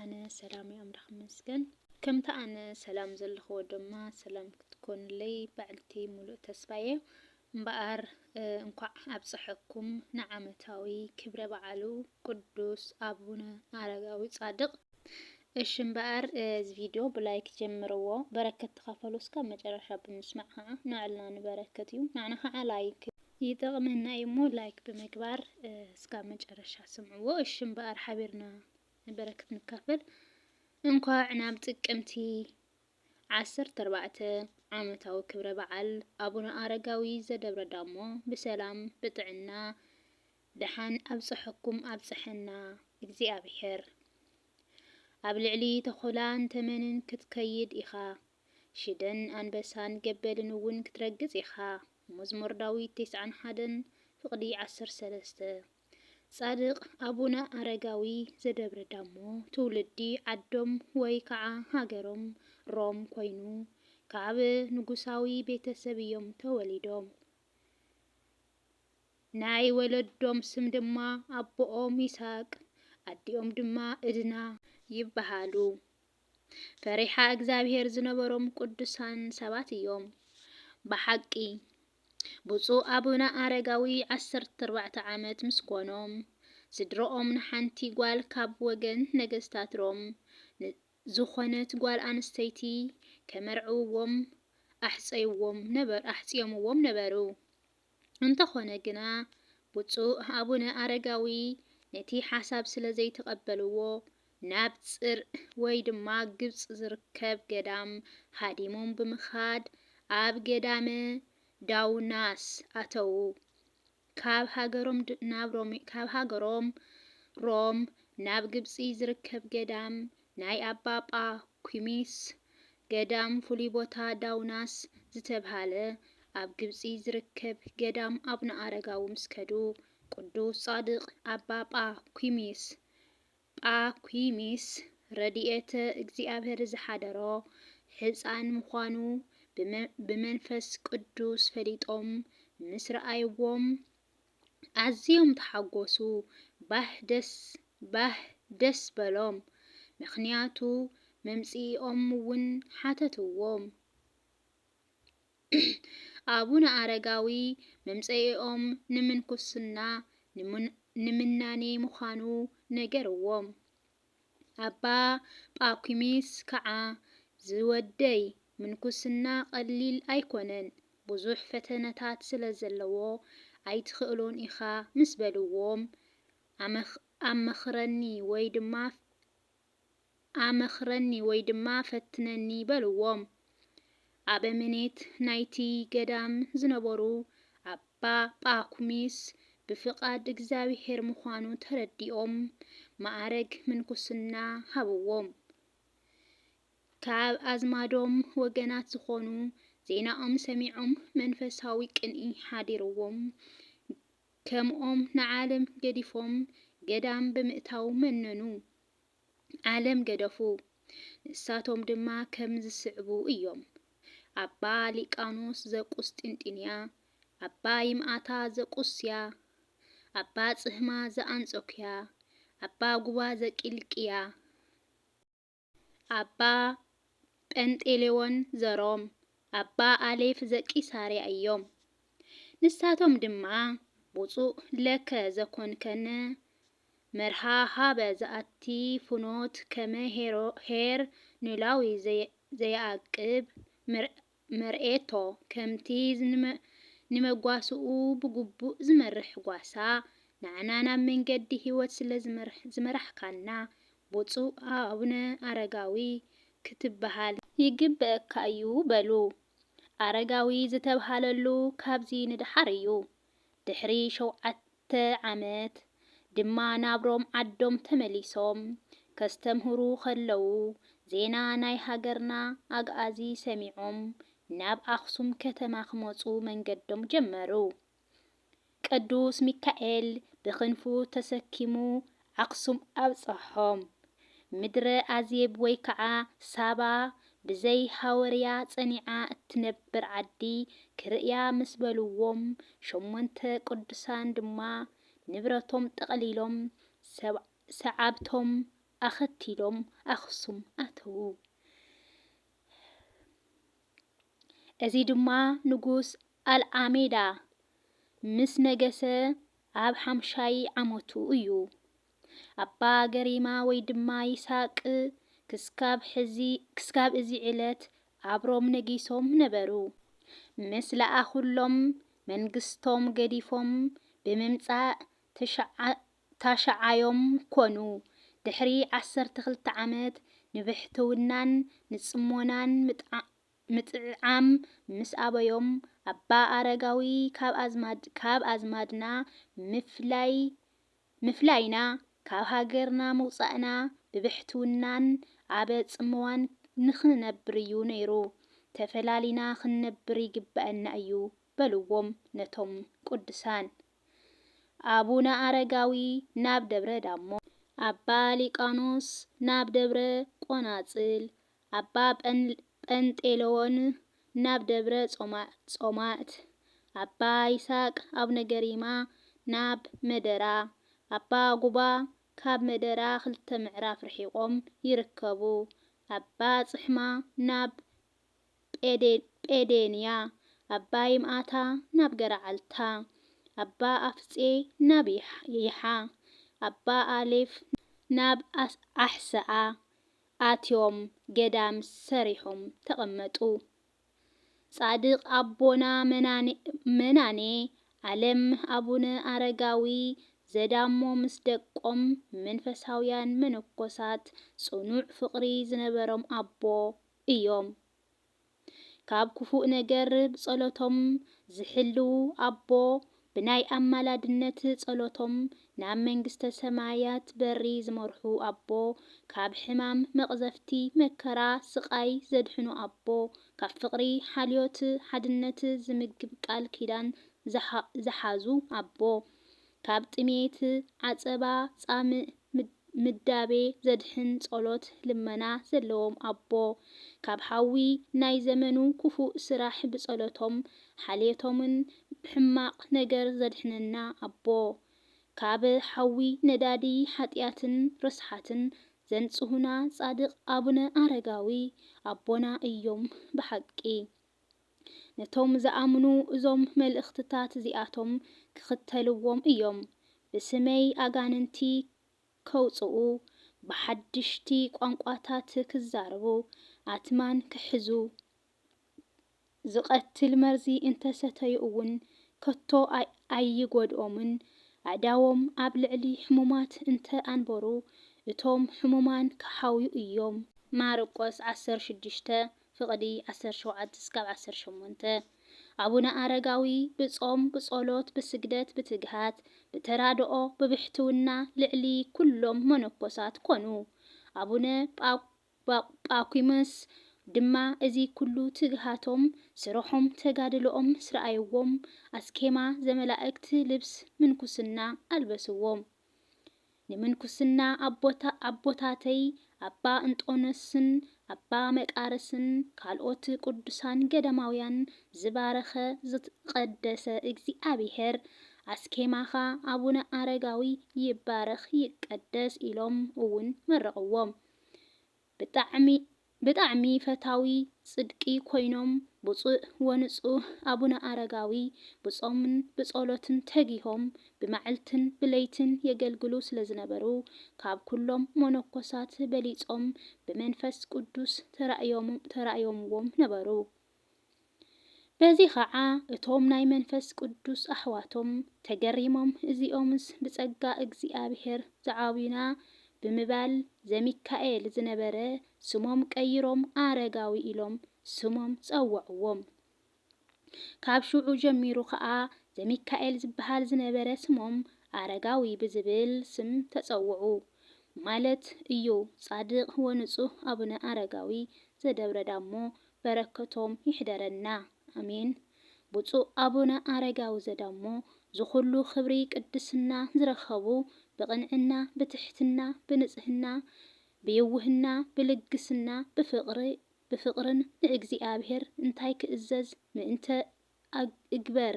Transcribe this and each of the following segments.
ኣነ ሰላም እየ ኣምላክ ይመስገን። ከምታ ኣነ ሰላም ዘለክዎ ደማ ሰላም ክትኮኑለይ ባዕልቲ ሙሉእ ተስፋ እየ። እምበኣር እንኳዕ ኣብፀሐኩም ንዓመታዊ ክብረ በዓሉ ቅዱስ ኣቡነ ኣረጋዊ ፃድቅ። እሺ እምበኣር እዚ ቪድዮ ብላይክ ጀምርዎ በረከት ተካፈሉ እስካብ መጨረሻ ብምስማዕ ከዓ ንዕልና ንበረከት እዩ ንዓና ከዓ ላይክ ይጠቅመና እዩ እሞ ላይክ ብምግባር እስካብ መጨረሻ ስምዕዎ እሺ እምበኣር ሓቢርና በረከት ንካፈል እንኳዕ ናብ ጥቅምቲ ዓሰርተ ኣርባዕተ ዓመታዊ ክብረ በዓል ኣቡነ ኣረጋዊ ዘደብረ ዳሞ ብሰላም ብጥዕና ደሓን ኣብፀሐኩም ኣብፀሐና እግዚኣብሔር። ኣብ ልዕሊ ተኹላን ተመንን ክትከይድ ኢኻ፣ ሽደን ኣንበሳን ገበልን እውን ክትረግፅ ኢኻ፣ መዝሙር ዳዊት ተስዓን ሓደን ፍቅዲ ዓሰርተ ሰለስተ። ጻድቕ ኣቡነ ኣረጋዊ ዘደብረ ዳሞ ትውልዲ ዓዶም ወይ ከዓ ሃገሮም ሮም ኮይኑ ካብ ንጉሳዊ ቤተሰብ እዮም ተወሊዶም። ናይ ወለዶም ስም ድማ ኣቦኦም ይስሃቅ ኣዲኦም ድማ እድና ይበሃሉ። ፈሪሓ እግዚኣብሄር ዝነበሮም ቅዱሳን ሰባት እዮም። ብሓቂ ብፁዕ ኣቡነ ኣረጋዊ ዓሰርተ ኣርባዕተ ዓመት ምስ ኮኖም ስድርኦም ንሓንቲ ጓል ካብ ወገን ነገስታት ሮም ዝኾነት ጓል ኣንስተይቲ ከመርዕውዎም ኣሕጸይዎም ኣሕጽዮምዎም ነበሩ። እንተኾነ ግና ብፁዕ ኣቡነ ኣረጋዊ ነቲ ሓሳብ ስለ ዘይተቐበልዎ ናብ ፅር ወይ ድማ ግብፅ ዝርከብ ገዳም ሃዲሞም ብምኻድ ኣብ ገዳመ ዳውናስ ኣተዉ። ካብ ሃገሮም ናብ ሮም ካብ ሃገሮም ሮም ናብ ግብፂ ዝርከብ ገዳም ናይ ኣባ ጳኩሚስ ገዳም ፍሉይ ቦታ ዳውናስ ዝተብሃለ ኣብ ግብጺ ዝርከብ ገዳም ኣቡነ ኣረጋዊ ምስ ከዱ ቅዱስ ጻድቅ ኣባ ጳኩሚስ፣ Pacumis፣ ረዲኤተ እግዚኣብሔር ዝሓደሮ ሕጻን ምዃኑ ብመንፈስ ቅዱስ ፈሊጦም ምስ ረኣይዎም፣ ኣዝዮም ተሓጎሱ ባህ ደስ ባህ ደስ በሎም ምክንያቱ መምጽኢኦም ውን ሓተትዎም ኣቡነ ኣረጋዊ መምጸኢኦም ንምንኩስና ንምናኔ ምኳኑ ነገርዎም ኣባ ጳኲሚስ ከኣ፣ ዝወደይ፣ ምንኩስና ቐሊል ኣይኰነን፣ ብዙሕ ፈተነታት ስለ ዘለዎ፣ ኣይትኽእሎን ኢኻ ምስ በልዎም፣ ኣመኽረኒ ወይ ድማ ኣመኽረኒ ወይ ድማ ፈትነኒ በልዎም። ኣበምኔት ናይቲ ገዳም ዝነበሩ ኣባ ጳኩሚስ ብፍቓድ እግዚኣብሔር ምዃኑ ተረዲኦም መዓርግ ምንኩስና ሃብዎም። ካብ ኣዝማዶም ወገናት ዝኾኑ ዜናኦም ሰሚዖም መንፈሳዊ ቅንኢ ሓዲርዎም ከምኦም ንዓለም ገዲፎም ገዳም ብምእታው መነኑ። ዓለም ገደፉ። ንሳቶም ድማ ከም ዝስዕቡ እዮም፣ ኣባ ሊቃኖስ ዘቁስጢንጢንያ፣ ኣባ ይምኣታ ዘቁስያ፣ ኣባ ጽህማ ዘኣንጾክያ፣ ኣባ ጉባ ዘቂልቅያ፣ ኣባ ጰንጤሌዎን ዘሮም፣ ኣባ ኣሌፍ ዘቂሳርያ እዮም። ንሳቶም ድማ ብፁዕ ለከ ዘኮንከነ መርሃ ሃበ ዝኣቲ ፍኖት ከመ ኄር ኖላዊ ዘየኣቅብ መርኤቶ፣ ከምቲ ንመጓሰኡ ብግቡእ ዝመርሕ ጓሳ፣ ንዓና ናብ መንገዲ ሕይወት ስለ ዝመራሕካና፣ ብፁዕ ኣቡነ ኣረጋዊ ክትበሃል ይግበኣካ እዩ በሉ። ኣረጋዊ ዝተብሃለሉ ካብዚ ንደሓር እዩ። ድሕሪ ሸውዓተ ዓመት ድማ ናብ ሮም ዓዶም ተመሊሶም ከስተምህሩ ከለዉ ዜና ናይ ሃገርና ኣግኣዚ ሰሚዖም ናብ ኣኽሱም ከተማ ክመጹ መንገዶም ጀመሩ። ቅዱስ ሚካኤል ብክንፉ ተሰኪሙ ኣኽሱም ኣብጸሖም። ምድረ ኣዜብ ወይ ከዓ ሳባ ብዘይ ሃወርያ ጸኒዓ እትነብር ዓዲ ክርእያ ምስ በልዎም ሸሞንተ ቅዱሳን ድማ ንብረቶም ጠቕሊሎም ሰዓብቶም ኣኸቲሎም ኣኽሱም ኣተዉ። እዚ ድማ ንጉስ ኣልኣሜዳ ምስ ነገሰ ኣብ ሓምሻይ ዓመቱ እዩ። ኣባ ገሪማ ወይ ድማ ይስሃቅ ክስካብ ሕዚ ክስካብ እዚ ዕለት ኣብ ሮም ነጊሶም ነበሩ። ምስ ለኣኹሎም መንግስቶም ገዲፎም ብምምጻእ ተሽዓ ታሽዓዮም ኮኑ። ድሕሪ ዓሰርተ ክልተ ዓመት ንብሕትውናን ንጽሞናን ምጥዓ ምጥዕዓም ምስ ኣበዮም፣ ኣባ ኣረጋዊ ካብ ኣዝማድ ካብ ኣዝማድና ምፍላይ ምፍላይና፣ ካብ ሃገርና ምውጻእና ብብሕትውናን ኣበ ጽምዋን ንኽንነብር እዩ ነይሩ። ተፈላሊና ክንነብር ይግበእና እዩ በልዎም ነቶም ቅዱሳን ኣቡነ ኣረጋዊ ናብ ደብረ ዳሞ፣ ኣባ ሊቃኖስ ናብ ደብረ ቆናጽል፣ ኣባ ጰንጤሎን ናብ ደብረ ጾማእት፣ ኣባ ይስሃቅ ኣቡነ ገሪማ ናብ መደራ፣ ኣባ ጉባ ካብ መደራ ክልተ ምዕራፍ ርሒቆም ይርከቡ፣ ኣባ ጽሕማ ናብ ጴዴንያ፣ ኣባ ይምኣታ ናብ ገረዓልታ፣ ኣባ ኣፍጼ ናብ ይሓ፣ ኣባ ኣሌፍ ናብ ኣሕሰኣ፣ ኣትዮም ገዳም ሰሪሖም ተቐመጡ። ጻድቕ ኣቦና መናኔ ኣለም ኣቡነ ኣረጋዊ ዘዳሞ ምስ ደቆም መንፈሳውያን መነኮሳት ጽኑዕ ፍቕሪ ዝነበሮም ኣቦ እዮም። ካብ ክፉእ ነገር ብጸሎቶም ዝሕልው ኣቦ ብናይ ኣማላድነት ጸሎቶም ናብ መንግስተ ሰማያት በሪ ዝመርሑ ኣቦ ካብ ሕማም መቅዘፍቲ መከራ ስቃይ ዘድሕኑ ኣቦ ካብ ፍቅሪ ሓልዮት ሓድነት ዝምግብ ቃል ኪዳን ዝሓዙ ኣቦ ካብ ጥሜት፣ ዓጸባ፣ ጻምእ፣ ምዳቤ ዘድሕን ጸሎት ልመና ዘለዎም ኣቦ፣ ካብ ሓዊ ናይ ዘመኑ ክፉእ ስራሕ ብጸሎቶም ሓልዮቶምን ሕማቕ ነገር ዘድሕነና ኣቦ፣ ካብ ሓዊ ነዳዲ ሓጥያትን ርስሓትን ዘንጽሁና ጻድቕ ኣቡነ ኣረጋዊ ኣቦና እዮም ብሓቂ። ነቶም ዝኣምኑ እዞም መልእኽትታት እዚኣቶም ክኽተልዎም እዮም፣ ብስመይ ኣጋንንቲ ኼውጽኡ፣ ብሓድሽቲ ቋንቋታት ኪዛረቡ፣ ኣትማን ኪሕዙ፣ ዚቐትል መርዚ እንተ ሰተዩ እውን ከቶ ኣይጐድኦምን፣ ኣእዳዎም ኣብ ልዕሊ ሕሙማት እንተ ኣንበሩ፣ እቶም ሕሙማን ኪሓውዩ እዮም። ማርቆስ ዓሰርተ ሽዱሽተ፣ ፍቕዲ ዓሰርተ ሸውዓተ እስካብ ዓሰርተ ሸሞንተ፣ ኣቡነ ኣረጋዊ ብጾም፣ ብጸሎት፣ ብስግደት፣ ብትግሃት፣ ብተራድኦ፣ ብብሕትውና ልዕሊ ኩሎም መነኮሳት ኮኑ። ኣቡነ ጳኩሚስ ድማ እዚ ኩሉ ትግሃቶም፣ ስርሖም፣ ተጋድሎኦም ምስ ረኣይዎም፣ ኣስኬማ ዘመላእክት ልብስ ምንኩስና ኣልበስዎም። ንምንኩስና ኣቦታተይ ኣባ እንጦንዮስን ኣባ መቃርስን ካልኦት ቅዱሳን ገዳማውያን ዝባረኸ ዝቐደሰ እግዚኣብሔር ኣስኬማኻ ኣቡነ ኣረጋዊ ይባረኽ ይቀደስ ኢሎም እውን መረቕዎም። ብጣዕሚ ብጣዕሚ ፈታዊ ጽድቂ ኮይኖም ብጹእ ወንጹህ ኣቡነ ኣረጋዊ ብጾምን ብጸሎትን ተጊሆም ብመዕልትን ብለይትን የገልግሉ ስለዝነበሩ ካብ ኩሎም ሞኖኮሳት በሊጾም ብመንፈስ ቁዱስ ተራእዮምዎም ነበሩ። በዚ ኸዓ እቶም ናይ መንፈስ ቅዱስ ኣሕዋቶም ተገሪሞም እዚኦምስ ብጸጋ እግዚኣብሔር ዝዓብዩና ብምባል ዘሚካኤል ዝነበረ ስሞም ቀይሮም ኣረጋዊ ኢሎም ስሞም ጸውዕዎም። ካብ ሽዑ ጀሚሩ ኸዓ ዘሚካኤል ዝበሃል ዝነበረ ስሞም ኣረጋዊ ብዝብል ስም ተጸውዑ ማለት እዩ ጻድቅ ወንጹህ ኣቡነ ኣረጋዊ ዘደብረዳሞ በረከቶም ይሕደረና ኣሜን ብፁእ ኣቡነ ኣረጋዊ ዘዳሞ ዝኩሉ ክብሪ ቅድስና ዝረከቡ ብቅንዕና ብትሕትና ብንፅህና ብይውህና ብልግስና ብፍቅሪ ብፍቅርን ንእግዚኣብሔር እንታይ ክእዘዝ ምእንተ እግበር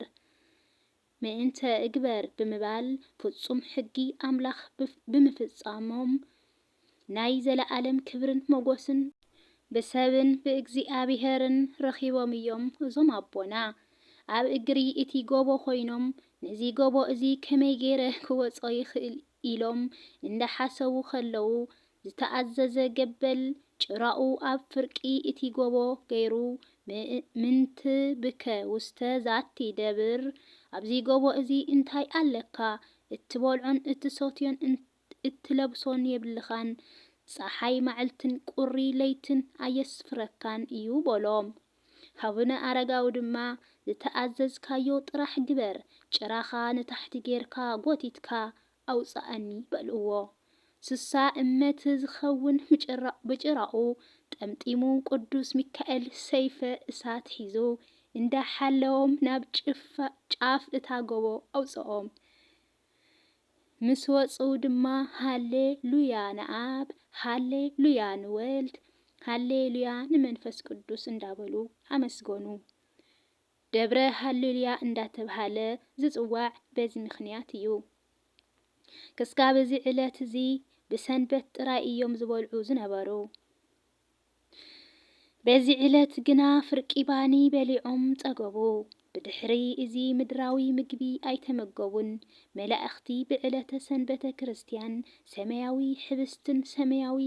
ምእንተ እግበር ብምባል ፍጹም ሕጊ ኣምላኽ ብምፍጻሞም ናይ ዘለኣለም ክብርን ሞጎስን ብሰብን ብእግዚኣብሔርን ረኺቦም እዮም እዞም ኣቦና ኣብ እግሪ እቲ ጎቦ ኮይኖም ነዚ ጎቦ እዚ ከመይ ገይረ ክወጾ ይኽእል ኢሎም እንዳሓሰቡ ከለዉ፣ ዝተኣዘዘ ገበል ጭራኡ ኣብ ፍርቂ እቲ ጎቦ ገይሩ፣ ምእንት ብከ ውስተ ዛቲ ደብር፣ ኣብዚ ጎቦ እዚ እንታይ ኣለካ? እትበልዖን እትሰትዮን እትለብሶን የብልኻን፣ ጸሓይ ማዕልትን ቁሪ ለይትን ኣየስፍረካን እዩ በሎም። ሃቡነ ኣረጋዊ ድማ ዝተኣዘዝካዮ ጥራሕ ግበር፣ ጭራኻ ንታሕቲ ጌርካ ጎቲትካ ኣውጽኣኒ በልዎ። ስሳ እመት ዝኸውን ምጭራቕ ብጭራኡ ጠምጢሙ ቅዱስ ሚካኤል ሰይፈ እሳት ሒዙ እንዳ ሓለዎም ናብ ጫፍ እታ ጎቦ ኣውጽኦም። ምስ ወጹ ድማ ሃሌ ሉያ ንኣብ፣ ሃሌ ሉያ ንወልድ፣ ሃሌ ሉያ ንመንፈስ ቅዱስ እንዳበሉ ኣመስገኑ። ደብረ ሃሌሉያ እንዳተብሃለ ዝጽዋዕ በዚ ምኽንያት እዩ። ክስጋብ እዚ ዕለት እዚ ብሰንበት ጥራይ እዮም ዝበልዑ ዝነበሩ። በዚ ዕለት ግና ፍርቂ ባኒ በሊዖም ጸገቡ። ብድሕሪ እዚ ምድራዊ ምግቢ ኣይተመገቡን። መላእኽቲ ብዕለተ ሰንበተ ክርስትያን ሰማያዊ ኅብስትን ሰማያዊ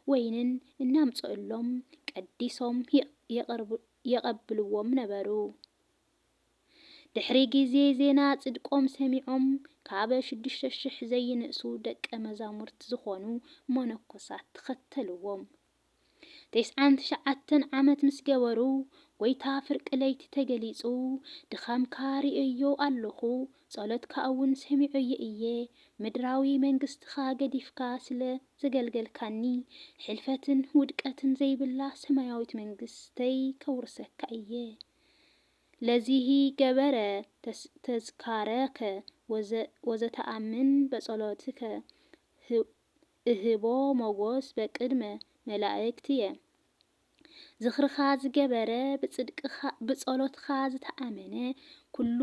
ወይንን እናምጽኡሎም ቀዲሶም የቐብልዎም ነበሩ። ድሕሪ ግዜ ዜና ጽድቆም ሰሚዖም ካብ ሽዱሽተ ሽሕ ዘይንእሱ ደቀ መዛሙርት ዝኾኑ መነኮሳት ተኸተልዎም። ተስዓን ትሽዓተን ዓመት ምስ ገበሩ ጎይታ ፍርቂ ለይቲ ተገሊጹ ድኻምካ ርእየዮ ኣሎኹ ጸሎትካ እውን ሰሚዖዮ እየ ምድራዊ መንግስትኻ ገዲፍካ ስለ ዘገልገልካኒ ሕልፈትን ውድቀትን ዘይብላ ሰማያዊት መንግስተይ ከውርሰካ እየ ለዚሂ ገበረ ተዝካረከ ወዘተኣምን በጸሎትከ እህቦ ሞጎስ በቅድመ መላእክትየ። ዝኽርኻ ዝገበረ ብጸሎትካ ዝተኣመነ ኩሉ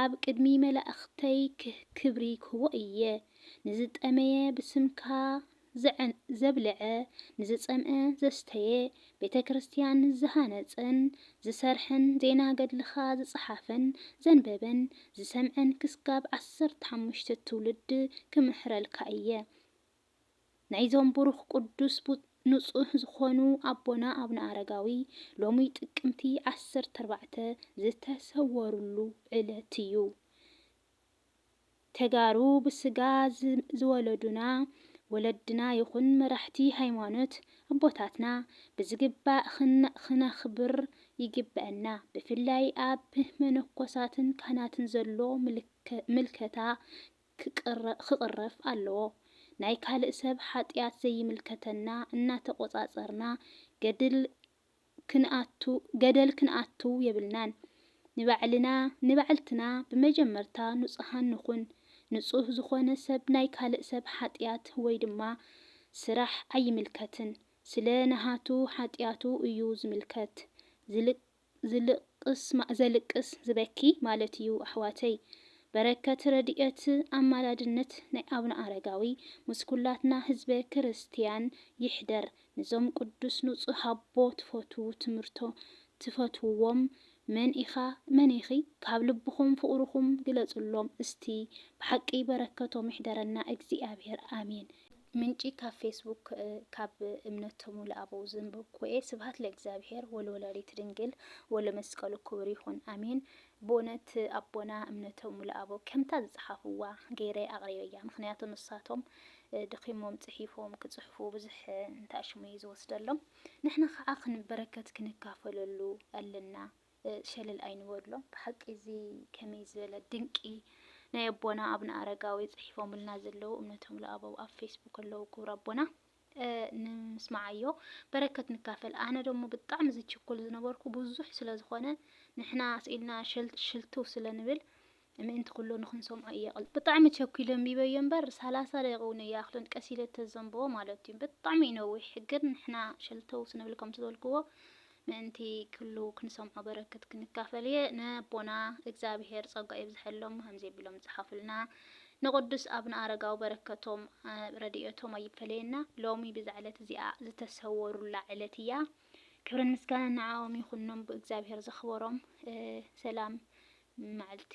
ኣብ ቅድሚ መላእኽተይ ክብሪ ክህቦ እየ። ንዝጠመየ ብስምካ ዘዐን ዘብልዐ፣ ንዝጸምእ ዘስተየ፣ ቤተ ክርስቲያን ዝሃነጸን ዝሰርሐን፣ ዜና ገድልኻ ዝጸሓፈን ዘንበበን ዝሰምዐን ክስጋብ ዓሰርተ ሓሙሽተ ትውልድ ክምህረልካ እየ። ናይዞም ብሩኽ ቅዱስ ንጹህ ዝኾኑ ኣቦና ኣብነ ኣረጋዊ ሎሚ ጥቅምቲ ዓሰርተ ኣርባዕተ ዝተሰወርሉ ዕለት እዩ። ተጋሩ ብስጋ ዝወለዱና ወለድና ይኹን መራሕቲ ሃይማኖት ኣቦታትና ብዝግባእ ክነኽብር ይግበእና። ብፍላይ ኣብ መነኮሳትን ካህናትን ዘሎ ምልከታ ክቕረፍ ኣለዎ። ናይ ካልእ ሰብ ሓጥያት ዘይምልከተና እናተቖፃፀርና ገድል ክንኣቱ ገደል ክንኣቱ የብልናን ንባዕልና ንባዕልትና ብመጀመርታ ኑጹሃን ንኩን ንጹህ ዝኮነ ሰብ ናይ ካልእ ሰብ ሓጥያት ወይ ድማ ስራሕ ኣይምልከትን ስለ ናሃቱ ሓጥያቱ እዩ ዝምልከት ዘልቅስ ዝበኪ ማለት እዩ ኣሕዋተይ በረከት ረዲኤት ኣማላድነት ናይ ኣቡነ ኣረጋዊ ምስ ኩላትና ህዝበ ክርስትያን ይሕደር ንዞም ቁዱስ ኑጹህ ኣቦ ትፈትዉ ትምህርቶ ትፈትዉዎም መን ኢኻ መን ኢኺ ካብ ልብኹም ፍቅርኹም ግለጽሎም እስቲ ብሓቂ በረከቶም ይሕደረና እግዚኣብሔር ኣሜን። ምንጪ ካብ ፌስቡክ ካብ እምነቶ ሙሉ ኣበው ዘንበብኩዎ'የ ስብሃት ለእግዚኣብሄር ወለወላዲት ድንግል ወለመስቀሉ ክቡር ይኹን ኣሜን ብኡነት ኣቦና እምነቶም ሙሉኣቦ ከምታ ዝጸሓፍዋ ገይረ ኣቅሪበያ ምኽንያቱ ንሳቶም ደኺሞም ጽሒፎም ክጽሕፉ ብዙሕ እንተ ኣሽሙ እዩ ዝወስደሎም ንሕና ኻዓ ክን በረከት ክንካፈለሉ ኣለና ሸለል ኣይንበሎ። ብሓቂ እዚ ከመይ ዝበለ ድንቂ ናይ ኣቦና ኣብነ ኣረጋዊ ጽሒፎምልና ዘለዉ እምነቶምሉኣበው ኣብ ፌስቡክ ኣለዉ ክቡር ኣቦና። ንምስማዓዮ በረከት ንካፈል ኣነ ደሞ ብጣዕሚ ዝችኩል ዝነበርኩ ብዙሕ ስለ ዝኮነ ንሕና ስኢልና ሽልትው ስለ ንብል ምእንቲ ኩሉ ንክንሰምዖ እየ ቅል ብጣዕሚ ቸኩለ ኣንቢበዮ እምበር ሰላሳ ደቂቅ እውን ኣይኣክልን ቀስ ኢለ ተዘንብቦ ማለት እዩ ብጣዕሚ እዩ ነዊሕ ግን ንሕና ሸልተው ስንብል ከምቲ ዝበልክዎ ምእንቲ ክሉ ክንሰምዖ በረክት ክንካፈል እየ ነቦና እግዛብሄር ጸጓ የብዘሐሎም ከምዚ ኣቢሎም ዝጸሓፉልና ንቁዱስ ኣብነ ኣረጋዊ በረከቶም ረዲኤቶም ኣይፈለየና ሎሚ ብዛ ዕለት እዚኣ ዝተሰወሩላ ዕለት እያ ክብርን ምስጋናን ንዓኦም ይኩኖም ብእግዛብሄር ዘክበሮም ሰላም ማዕልቲ